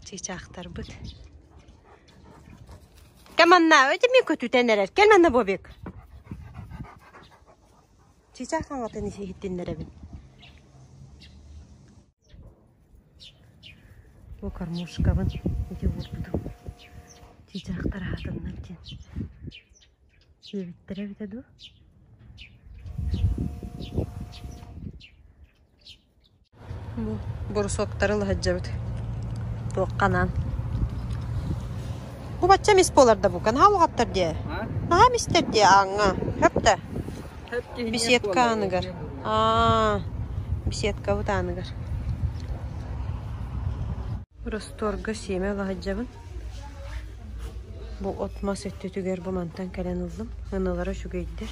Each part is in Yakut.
Чыычаахтарбыт Кэм аннааҕы дьэми көтүтэн эрэр Кэл манна Бобик Чыычаах хаҥатын иһиттиннэрэбин Бу кормушкабын ити уурбутум Чыычаахтар аһатыннар диэн Сиэбиттэрэ эбитэ дуу Бурусуоктары ыла сылдьабыт. Туохха анаан? Бу бачча эмис буолар да бу. Канаал уҕаттар дии. Наһаа эмистэр дии ааҥҥа. Хөп да? Беседка ааныгар. Аа, беседкабыт ааныгар. Ростуорга сиэмэ ыла сылдьабын. Бу от-мас өттүтүгэр бу мантан кэлэн ыллым. Ынылара үчүгэйдэр.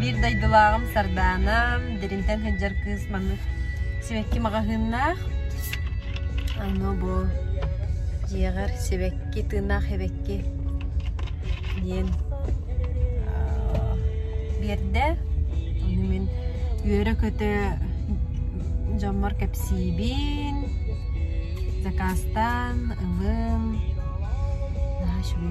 Биир дойдулааҕым Сардаана, дэринтэн сылдьар кыыс маннык сибэкки маҕаһыыннаах. Аны бу дьиэҕэр сибэкки, тыыннаах сибэкки диэн биэрдэ. Ону мин үөрэ-көтө дьоммор кэпсиибин, заказтан ылын. Наш вы.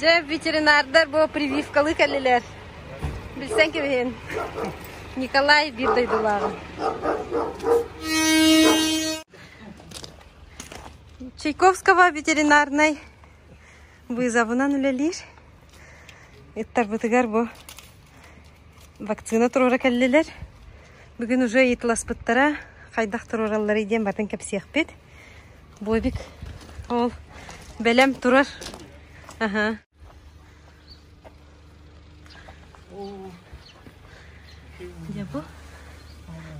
Дьэ, ветеринардар бу прививкалыы кэллилэр. Билсэн кэбиһин. Николай биир дойдулааҕын. Чайковского ветеринарнай вызовынан үлэлиир. Ыттарбытыгар бу Вакцина туруора кэллилэр. Бүгүн уже ыйытыласпыттара, хайдах туруоралларый диэн батын кэпсиэхпит. Бобик ол бэлэм турар. Аха. Дьэ бу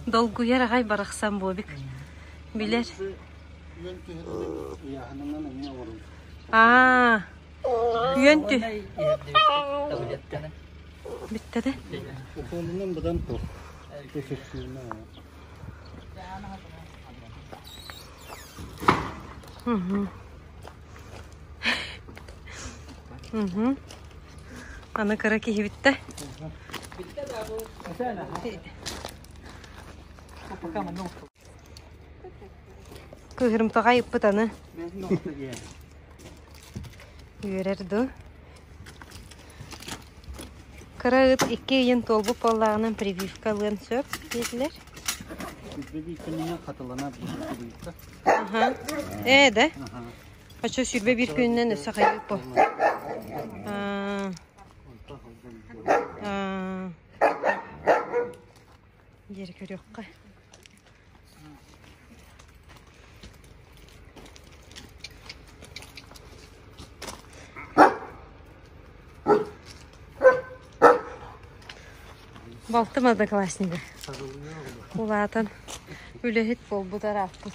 долгуйар аҕай барахсан Бобик. Билэр. Аа, Үөн тү. Бүттэ да? Угу. Угу. Аны кыра киһи бүттэ. Кыһырымтаҕай ыппыт аны. үөрэр дуу кыра ыт икки ыйын туолбут буоллаҕынан прививка ылыан сөп диэтилэр Сирбэбииркэнинэ хатылана прививка аха ээ да хочу сирбэ биир күнүнэн өссө хайдык бу аа диэри көрүөххэ балта однокласснигы улаатан үлэһит буолбут арааппыт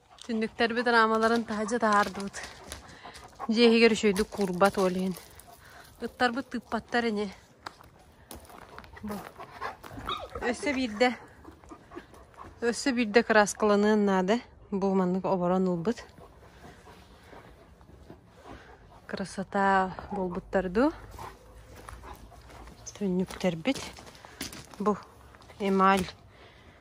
Түннүктэрбит раамаларын таһырдьа таһаардыбыт. Дьиэ иһигэр үчүгэйдик куурбат ол иһин. Ыттарбыт тыыппаттар ини. Бу. Өссө биирдэ өссө биирдэ кырааскаланыан наада. Бу маннык оборон ылбыт. Красота буолбуттар дуу? Түннүктэрбит. Бу эмаль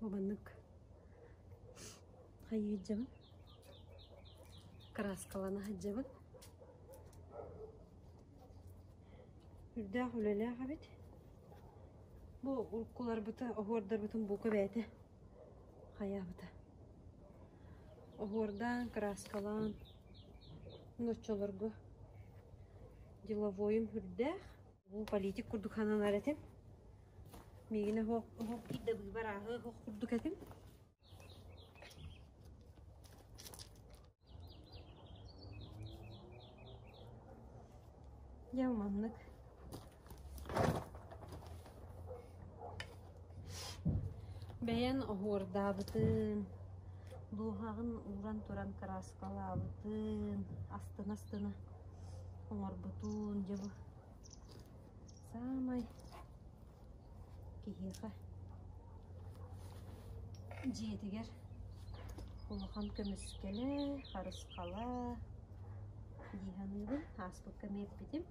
Убаннык хайыыдьабын, кырааскалана сылдьабын. Үрдээх үлэлээх эбит. Бу уруккуларбыта, оһуордарбытын бука бэйэтэ хайаабыта. Оһуордаан, кырааскалаан Ноччолорго деловойум үрдээх, уу политик курдук сананар этим. Миигин оһох оһох киирдэ быыбар ааһы оһох курдук этим. Я маннык Бэйэн оһуордаабытын, дууһаҕын ууран туран кырааскалаабытын, астына-астына оҥорбутун, дьэ бу саамай киһиэхэ дьиэтигэр улахан көмүскэлэ, харысхала дии саныыбын, ааспыкка мэйиппитим.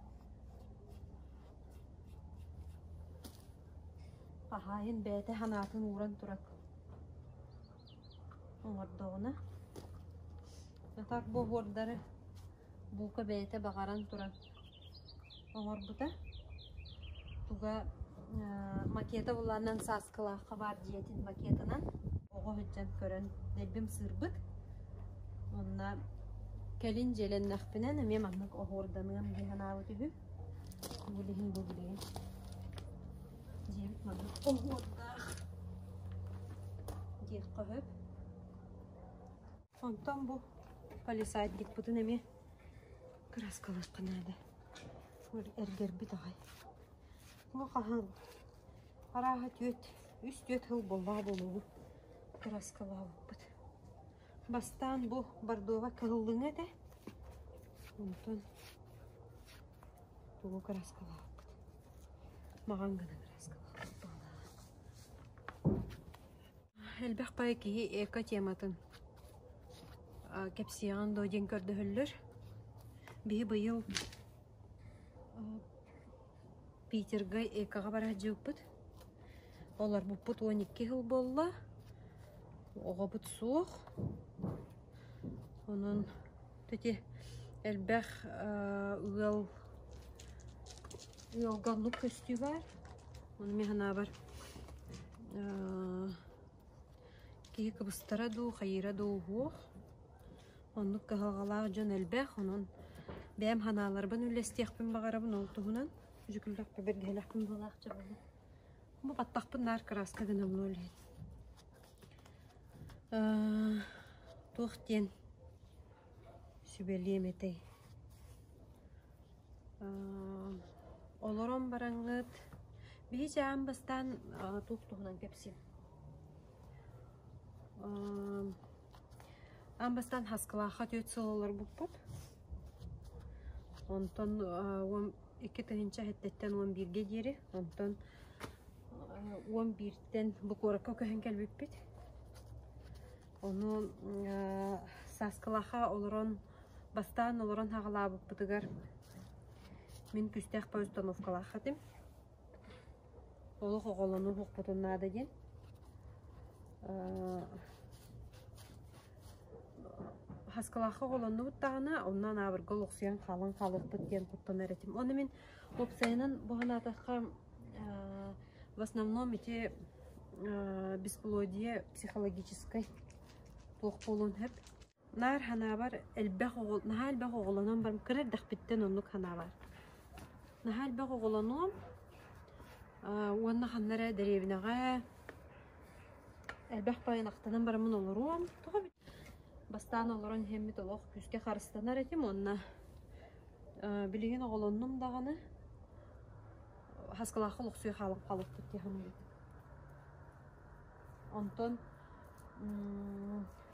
Хаһаайын бэйэтэ санаатын ууран турар оҥордоҕуна сатар боһуордары бука бэйэтэ баҕаран туран оҥорбута туга макета булланан сааскылаахха баар дьиэтин макетынан оҕо сылдьан көрөн дэлбим сыырбыт онно кэлин дьиэлэннэхпинэ эмиэ маннык оһуорданыам дии санаабыт үһү билигин бу билигин дьиэбит маннык оһуордаах диэххэ сөп Онтон бу полисадникпытын эмиэ кырааскалыахха наада. Эргэрбит аҕай. Moo хаһан? Арааһа түөрт, үс-түөрт сыл буоллаҕа буолуоҕу кырааскалаабыппыт. Бастаан бу бордоба кыһыллыҥа этэ. Онтон тугу кырааскалаабыппыт. Маҕан гынан кырааскалаабыппыт буолаҕа. Элбэх да киһи эко тематын кэпсиэҕиҥ дуо диэн көрдөһөллөр. Биһи быйыл Питерга экоҕа бара сылдьыбыппыт. Олорбуппут уон икки сыл буолла. Оҕобут суох. Онон Ити элбэх ыал ыалга оннук көстүүбэр. Ону мин санаабар киһи кыбыстара дуу, хайыыра дуу уһуох. Оннук кыһалҕалаах дьон элбэх. Онон бэйэм санааларбын үллэстиэхпин баҕарабын. Ол туһунан дьүкүллэхпэ бэргэһэлэхпин буолаах дьабылым. Бу баттахпын наар кырааска гынабын ол иһин. туох диэн сүбэлиэм этэй олорон бараҥҥыт биһиги аан бастаан туох туһунан кэпсиим аан бастаан хаскылаахха түөрт сыл олорбуппут онтон уон икки тыһыынча сэттиттэн уон бииргэ диэри онтон уон биир Тэн бу куоракка көһөн кэлбиппит. Ону Сааскылаха олорон бастаан олорон хаҕалаабыппытыгар мин күстээх по установкалаах этим. Олох оҕолону уһукпутун наада диэн. Хаскылаахха оҕолоннубут даҕана, онно анаабырга олохсуйан хаалан хаалыппыт диэн куттанар этим. Оны мин Уопсайынан бу санаатахха в основном ити бесплодие психологическай туох буолуон сөп. Наар санаабар элбэх оҕо наһаа элбэх оҕолонон баран кыра эрдэхпиттэн оннук санаабар. Наһаа элбэх оҕолонуом уонна ханна эрэ дэриэбинэҕэ элбэх байанактанан бараммын олоруом. Тоҕо бастаан олорон иһэммит олох күүскэ харыстанар этим уонна Билигин оҕолоннум даҕаны хаскылаахха олохсуйа хаалыппыт дии саныыбын. Онтон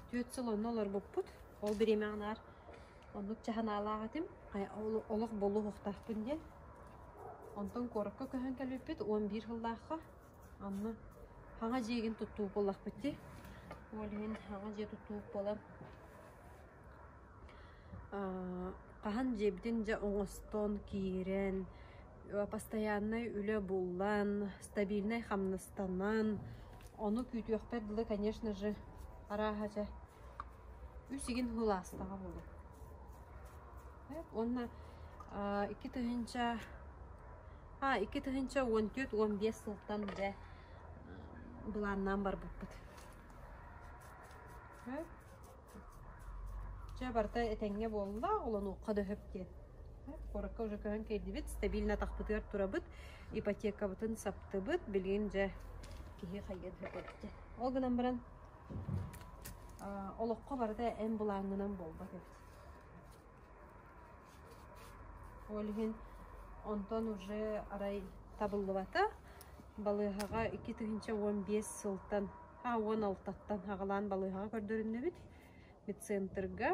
түөрт сыл онно олорбуппут. Ол бириэмэҕэ наар оннук дьа санаалаах этим. Олох буолуохтаахпын диэн. Онтон куоракка көһөн кэлбиппит уон биир сыллаахха. Онно хаҥа дьиэгин туттуук буоллахпыт дии. Ол иһин хаҥа дьиэ туттуук буолан хаһан дьиэбитин дьэ оҥостон киирэн постояннай үлэ булан стабильнай хамнастанан ону күүтүөхпэр дылы конечно же арааһа дьэ үс игин ылаастаҕа буолуо уонна икки тыһыынча икки тыһыынча уон түөрт уон биэс сылтан бэ былааннаан барбыппыт Чэ, барыта этэҥҥэ буолла, олонуохха да сөп диэн. Куоракка уже көһөн тиэрдибит, стабильно атахпытыгар турабыт, ипотекабытын саптыбыт, билигин дьэ киһи хайыан сөп эбитэ. Ол гынан баран аа, олоххо барыта эн былааҥҥынан буолбат эбит. Ол иһин онтон уже арай табыллыбата. Балыыһаҕа икки тыһыынча уон биэс сылтан уон алтаттан аҕалаан балыыһаҕа көрдөрүннүбүт медцентрга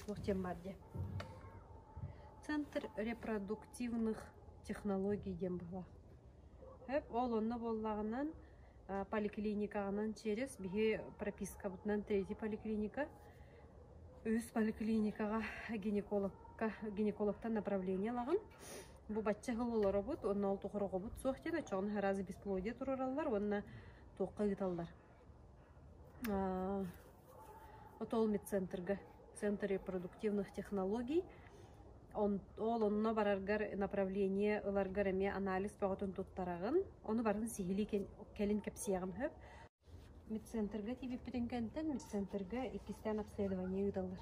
туох диэн баар дии центр репродуктивных технологий диэн баалаах өп ол онно буоллаҕынан поликлиникаҕынан через биһи пропискабытынан третий поликлиника үһүс поликлиникаҕа гинекологка гинекологтан направление ылаҕын бу бачча сыл олоробут уонна ол тухары оҕобут суох диэн оччоҕуна араас бесплодие туруораллар уонна туохха ыыталлар отол медцентрга центр репродуктивных технологий ол онно бараргар направление ыларгар эмиэ анализ бөҕөтүн туттараҕын ону барытын сиһилии кэлин кэпсиэҕим сөп Медцентрга тиийбиппитин кэнтэн медцентрга иккистээн обследование ыыталлар.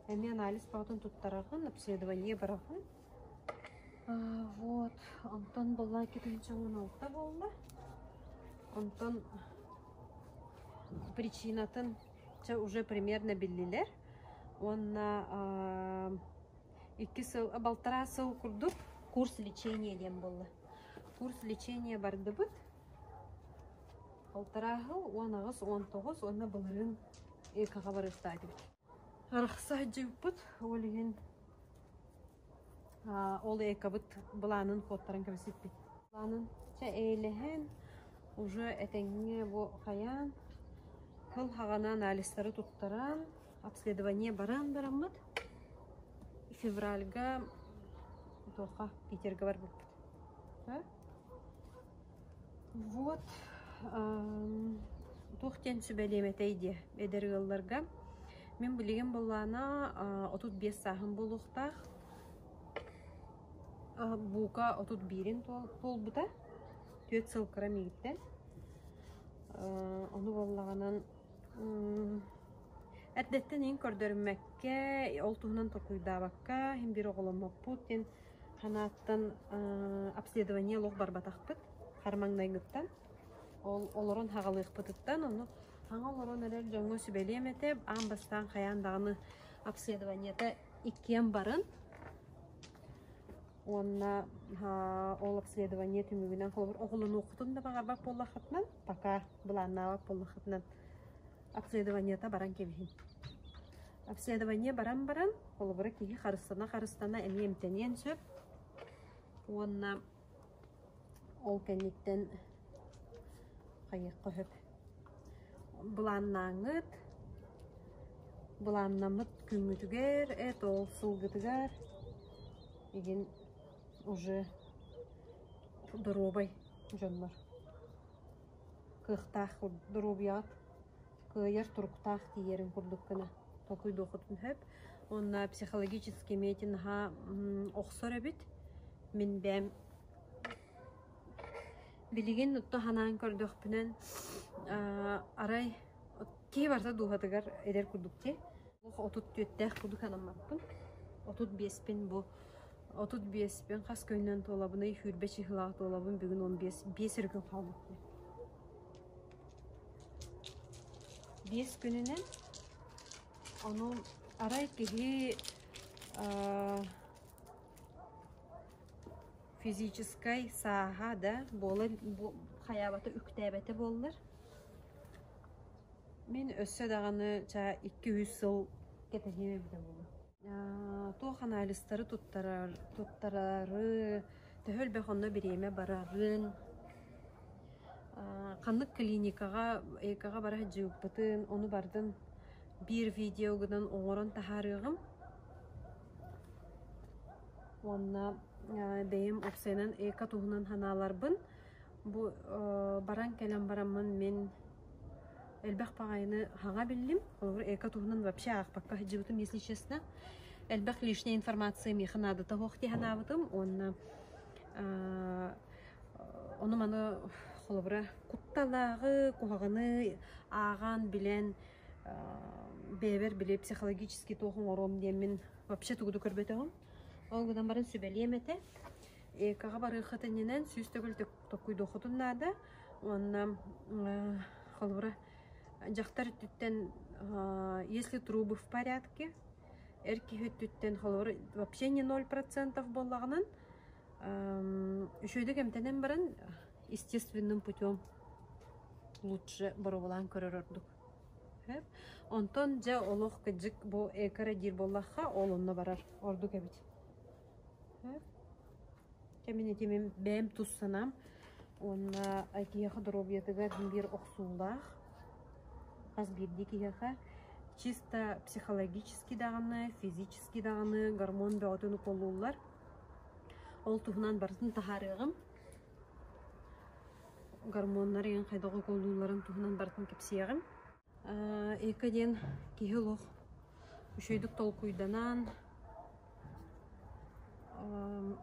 Эмиэ анализ бөҕөтүн туттараҕын, обследование быраҕан. Аа вот, онтон былаакка түмсэҕин алта буолла. Онтон причинатын чэ уже примерно биллилэр уонна аа икки сыл, балтараа сыл курдук курс лечения диэн буолла. Курс лечения бардыбыт. Алтарааһыл уон аҕыс, уон тоҕус уонна былырыын ИК-ҕа барыахтаах этибит. Арахса сылдьыбыппыт, ол иһин ол ИК-быт былаанын куоттаран кэбиспиппит. Былаанын чэ эйэлэһэн, уже этэҥҥэ бу хайаан, кыл хаҕаны анализтары туттаран, обследование баран бараммыт, февральга туохха, Питерга барбыппыт. Вот туох диэн сүбэлиэм этэй диэ эдэр ыалларга мин билигин былаана отут биэс сааһым буолуохтаах бука отут биирин туолбута түөрт сыл кыра миигиттэн ону буоллаҕынан эрдэттэн иһин көрдөрүмэккэ ол туһунан толкуйдаабакка иһин биир оҕоломмоппут диэн Санааттан обследование олох барбатахпыт хар маҥнайгыттан. Ол олорон саҕалыахпытыттан ону саҥа олорон эрэр дьоҥҥо сүбэлиэм этэ аан бастаан хайаан даҕаны обследованиета иккиэн барын. Уонна ол обследование түмүгүнэн холобур оҕолонуоххутун да баҕарбат буоллаххытына пока былааннаабат буоллаххытына Обследованиета баран кэбиһин. Обследование баран баран, холобура киһи харыстана-харыстана эмиэ эмтэниэн сөп. Уонна ол кэнниттэн хайыахха сөп. Былааннааҥҥыт, былааннаммыт күҥҥүтүгэр, эт-ол сылгытыгар игин уже доруобай дьоннор. Кыахтаах доруобуйаҕыт кыайар туруктаах тиийэрин курдук гына толкуйдуоххутун сөп. Уонна психологический миэти наһаа охсор эбит. Мин бэйэм билигин отто санаан көрдөхпүнэн арай Киһи барыта дууһатыгар эдэр курдук дии. Олох отут түөртээх курдук санаммаппын. Отут биэспин бу отут биэспин хас көйнөн туолабыный хүрбэ чыһылаах туолабын бүгүн он биэс биэс өрүкүн хаалбыт дии. Биэс күнүнэн ону арай киһи физическай сааһа да буола хайаабата үктээбэтэ буоллар Мин өссө даҕаны ча икки-үс сыл кэтэһиэм эбитэ буолуо. Аа туох анаалыстары туттарар туттарары төһө элбэх онно бириэмэ барарын аа ханнык клиникаҕа ЭК-ҕа бара сылдьыбыппытын ону бардын биир видеогунан оҥорон таһаарыаҕым. Уонна бэйэм уопсайынан ЭК туһунан санааларбын Бу баран кэлэн бараммын мин элбэх баҕайыны аҕа биллим. Холобур, эко туһунан вообще аахпакка сылдьыбытым, если честно. Элбэх лишней информации миэхэ наадата суох дии санаабытым уонна ону-маны холобура кутталааҕы, куһаҕаны ааҕан билэн бэйэбэр били психологический туох оҥоруом диэммин вообще тугу да көрбөтөҕүм. Ол гынан баран сүбэлиэм этэ. Экаҕа барыаххыт иннинэн сүүс төгүл токуйдуоххутун наада уонна холобура дьахтар өттүттэн если трубы в порядке эр киһи өттүттэн холобура вообще не ноль процентов буоллаҕынан үчүгэйдик эмтэнэн баран естественным путем лучше боруобалаан көрөр ордук сөп онтон дьэ олох кыдьык бу эко диир буоллахха ол онно барар ордук эбит Кэмин итимим бэйэм тус санаам уонна киһиэхэ доруобуйатыгар биир охсуулаах. Хас биирдии киһиэхэ чисто психологически даҕаны, физически даҕаны гормон бөҕөтүн укулууллар. Ол туһунан барытын таһаарыаҕым. Гормоннар эйиэхэ хайдах укулуулларын туһунан барытын кэпсиэҕим. Эко диэн киһи олох үчүгэйдик толкуйданаан,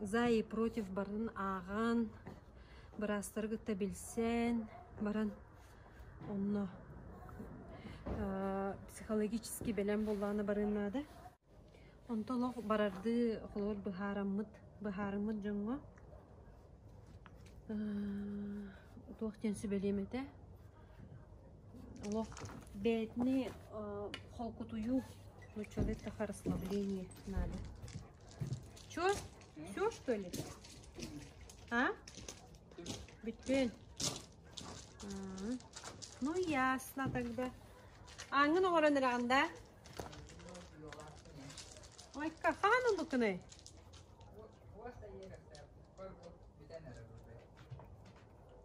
за и против барытын ааҕан, быраастары кытта билсэн баран онно психологически бэлэм буоллаҕына барыан наада. Онто олох барардыы холобур быһаараммыт быһаарыммыт дьоҥҥо туох диэн сүбэлиэм этэ? Олох бэйэтини холкутуйуу нууччалыы это харысхлабление надо. Чё? Всё что ли? А? Бүттүн. Ну ясно тогда. Ааҥҥын оҥорон эрэҕин да? Ойка, хаһан ыллыкыный?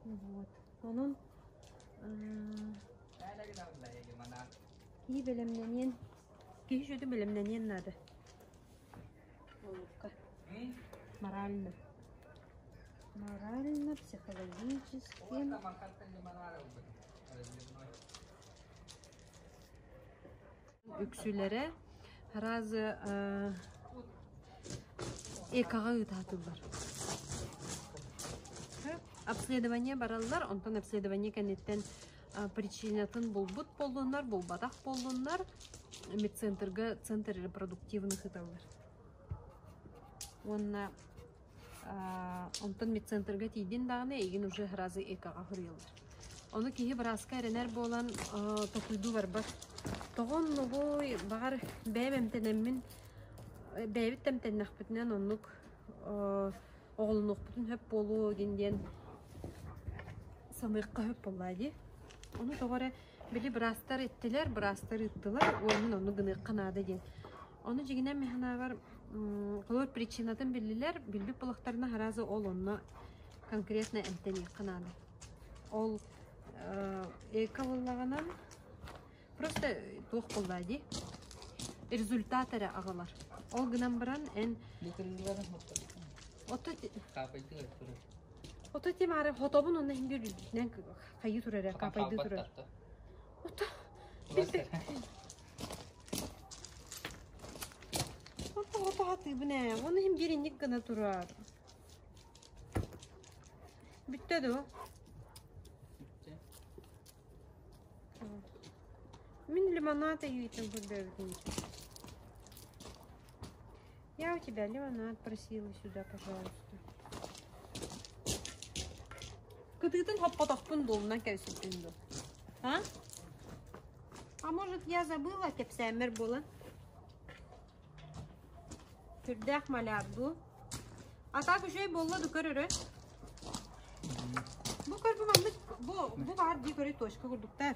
Вот. Онон кии бэлэмнэниэн киһи жөдү бэлэмнэниэн наада Олукка. Морально. Морально-психологически үксүлэрэ араазы ээ экаҕа ыытаатыллар обследование бараллар онтон обследование кэнниттэн причинатын булбут буоллуннар булбатах буоллуннар медцентрга центр репродуктивын ыыталлар уонна онтон медцентрга тиийдин даҕаны эйигин уже разы ЭК-ҕа суруйаллар. Ону киһи бырааска эрэнэр буолан толкуйдуу барбат. Тоҕо оннугуй, баҕар, бэйэм эмтэнэммин, бэйэбит эмтэннэхпитинэн оннук оҕолонуохпутун сөп буолуо диэн диэн саныахха сөп буоллаа дии. Ону тоҕо эрэ били быраастар эттилэр, быраастар ыыттылар, уол мин оннук гыныахха наада диэн. Ону дьиҥинэн ми санаабар Клод причинатын биллилэр, билбит буолахтарына аһараазы ол онно конкретно эмтэниэххэ наада. Ол эка буоллаҕынан просто туох буоллаа дии результат эрэ аҕалар. Ол гынан баран эн Бутуругар хоттостум. ото Капайдыга туру. ото тимаары хотобун онно хиндир үрдүтүнэн хайыы турар капайды турар. Ото Бастар. Хото хатыыбын ээ, ону иһин биэринньик гына турар. Бүттэ дуу? Бүттэ. Мин лимонад ыйыытын көрдөөбүтүм. Я у тебя лимонад просила сюда, пожалуйста. Кытыытын хоппотохпун буолунан кэбисиппин дуу? А? А может, я забыла кэпсээммэр буолан? Сүрдээх маляр дуу? А так үчүгэй буолла ду көрөрө? Бу көрбү маннык, бу, бу баар дии көрө точка курдуктар.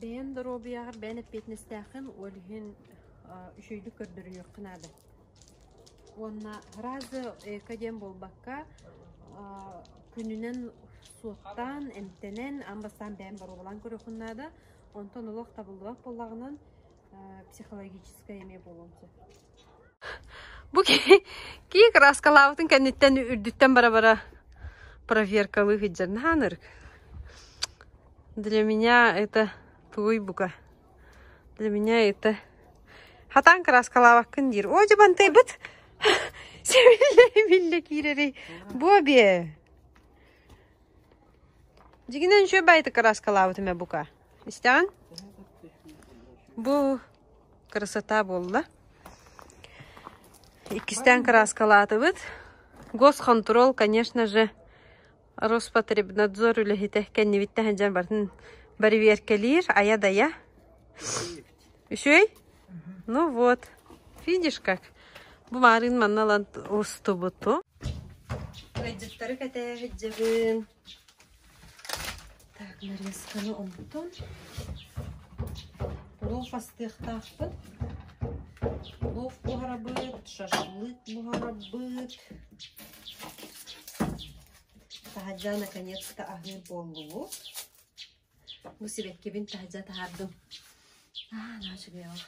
Бэйэм доруобуйаҕар бэйэм эппиэтинэстээххин, ол иһин үчүгэйдик көрдөрүһүөххэ наада. Уонна разы эко диэн буолбакка, күнүнэн суоттаан, эмтэнэн, аан бастаан бэйэм боруобалаан көрүөххүн наада. Онтон олох табыллыбат буоллаҕынан, психологическай эмиэ буолуон сөп. Бу киһи киһи кырааскалаабытын кэнниттэн үрдүттэн бара-бара проверкалыы сылдьар. Наһаа ынырык. Для меня это туй бука. Для меня это хатаан кырааскалаабаккын диир. Оо дьабантайбыт сэмиллэ-биллэ киирэрий. Бу бие. Дигинен шөп айты кырааскалаабытым бука. Истэҕин? Бу Красота буолла. Иккистээн кырааскалаатыбыт. Госхонтрол, конечно же, Роспотребнадзор үлэһитэ кэннибиттэн сылдьан бартын бариверкэлиир айа-дайа. Үчүгэй? Ну вот. Видишь как? Бу маарыын манна ылан устубуту. Кыайдыттары кэтээһиджэбин. Так, нарезканы онтон лов астыахтаахпыт. Лов буһарабыт, шашлык буһарабыт. Таһырдьа наконец-то аһыыр буоллубут. Бу сибэккибин таһырдьа таһардым. Аа, наачыгыйаҕа.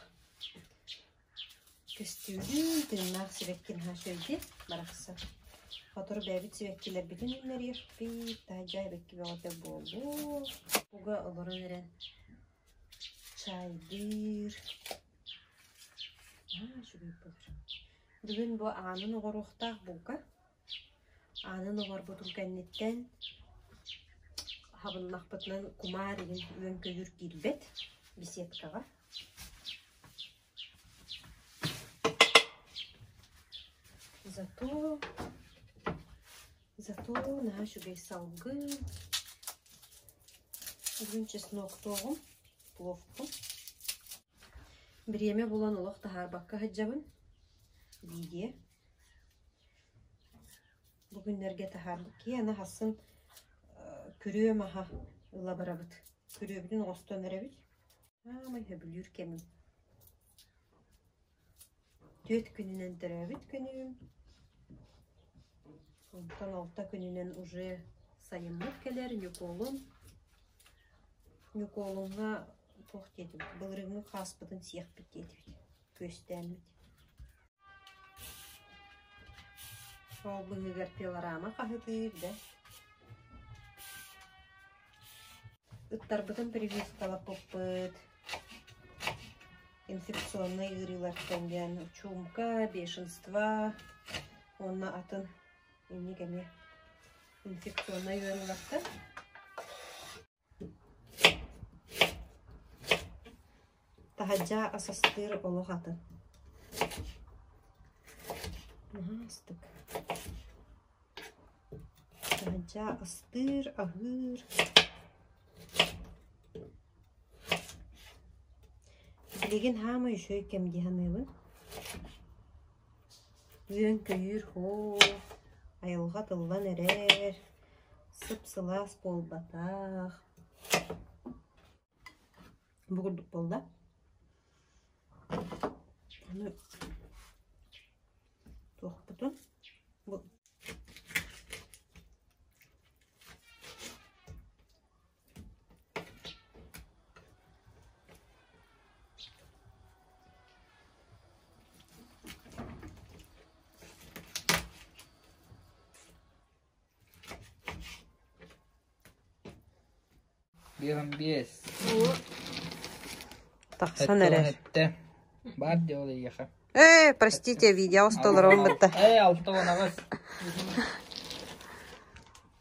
Көстүүбүн, тыыннаах сибэккин аһа өйдүн барахсан, Хотур бэйэбит сибэккилэрбитин үүннэриэх пиит-таайдьаа эбэкки бөҕөтө буолуо, уга олорон эрэн чайдыыр. Наһаа үчүгэй буолар. Бүгүн бу аанын оҕоруохтаах булка. Аанын оборбутун кэнниттэн хабыннахпытынан кумаар иһин үөн-көйүүр киирбэт беседкаҕа. Зато зато нааш үгэс салгыы үрүҥ чесноктооҕум, пловпун. Бириэмэ булан олох таһаарбакка сылдьабын. Видео Бу күннэргэ таһаарбыт киһи ахсын күрүөм аһа ыла барабыт. Күрүөбүтүн оҥостон эрэбит. Саамай сөбүлүүр кэмим. Түөрт күнүнэн төрөөбүт күнүм. Онтон алта күнүнэн уже сайыммыт кэлэр Ньукуолун. Ньукуолуҥҥа туох диэтибит? Былырыыҥҥы хааспытын сиэхпит диэтибит. күөстээммит Сол быһыыгар пилорама хаһытыыр да Ыттарбытын прививкалаппыппыт инфекционнай ыарыылартан диэн чуумка, бешенство уонна атын инник эмиэ инфекционнай ыарыылартан Таһырдьа ас астыыр олох атын Наһаастык. Таһырдьа астыыр, аһыыр Билигин саамай үчүгэй кэм дии саныыбын Үөн-көйүүр һоо, айылҕа тыллан эрэр, сып-сылаас буолбатах, бу курдук буолла. Аны туохпутун бу Биэс. Тахсан эрэ. Эттэ. Бар дело еха. Э, простите, видео столаром бытта. Эй, алты онаҕас.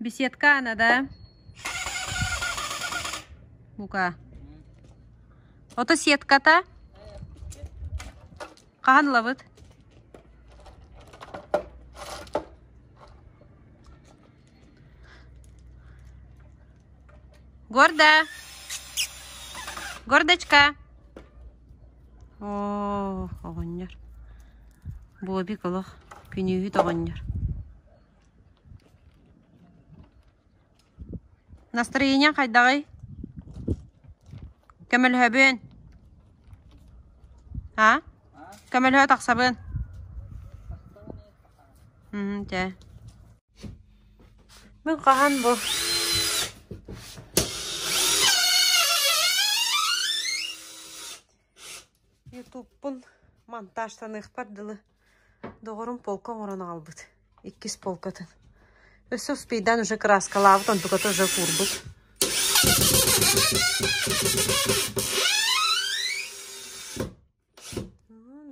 беседка она да бука ото сетката хаһан ылабыт гордо гордочка оо оҕонньор Бобик олох күнүүһүт оҕонньор Настроение хайдаҕый? Көмөлөһөбүн. А? Көмөлөһө тахсабын. Хм, дьэ. Мин хаһан бу ютубпун монтажтаныахпар дылы доҕорум полка оҥорон аҕалбыт иккис полкатын өссө успейдаан уже кырааскалаабыт онтуката уже куурбут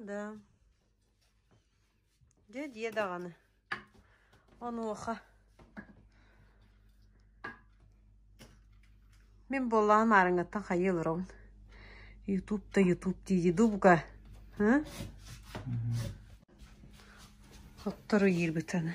да Дьэ дьиэ даҕаны, онуоха мин буоллаҕа маарыҥаттан хайыы олоробун ютуб да ютуб диди дубга оттору иирбит аны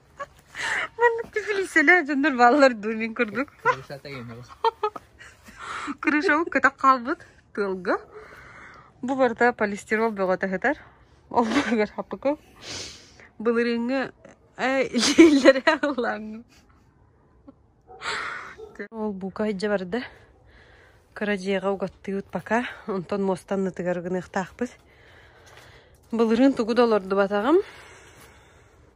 Маннык кэпилииссэлээх дьоннор бааллар дуу мин курдук Крыша тайымыгыз. Крышабыт көтөх хаалбыт тыалга. Бу барыта полистирол бөҕө таһытар. Ол быһыгар хаппыкы. Былырыыҥҥы илиилэрэ ыллааҥҥы. Ол бука иһдьэ барда. Кыра дьиэҕэ угаттыыбыт пока. Онтон муостан ытыгар гыныахтаахпыт. Былырыын тугу да олордубатаҕым.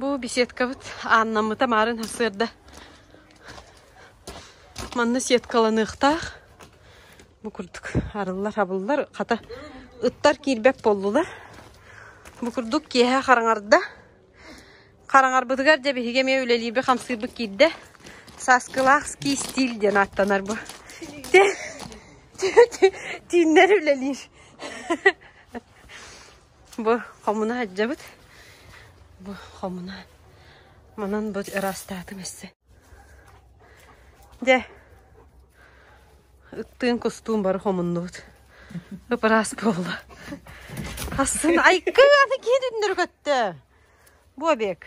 Бу беседкабыт ааннаммыта маарын сырда. Манна сеткаланыахтаах. Бу курдук арыллар-хабыллар. Хата, ыттар киирбэт боллулар. Бу курдук киэһэ хараҥарда. Хараҥарбытыгар дьэ биһиги эмиэ үлэлиирбит-хамсыырбыт киирдэ. Сааскылаах ски стил диэн ааттанар бу. Тииннэр үлэлиир. Бу хомуна сылдьабыт. Бу хомуна. Манан бу ыраастаатым эссе. Дьэ, ыттыын кустуун бары хомуннубут. Ыпыраас буолла. Асын айкы аны киһи түннүрү көттө. Бу обек.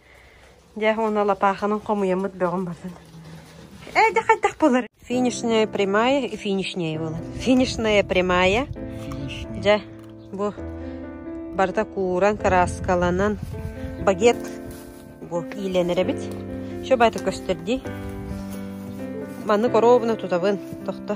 Дьэ, уонна лапааханан хомуйаммыт бөҕүм бардан. Ээ, дьэ хайдах болар? Финишная прямая и финишнее было. Финишная прямая. Дьэ, бу барыта кууран, кырааскаланан багет бу иилэнэр эбит. Що бата көстөрди? Манны коробна тутабын. Тохто.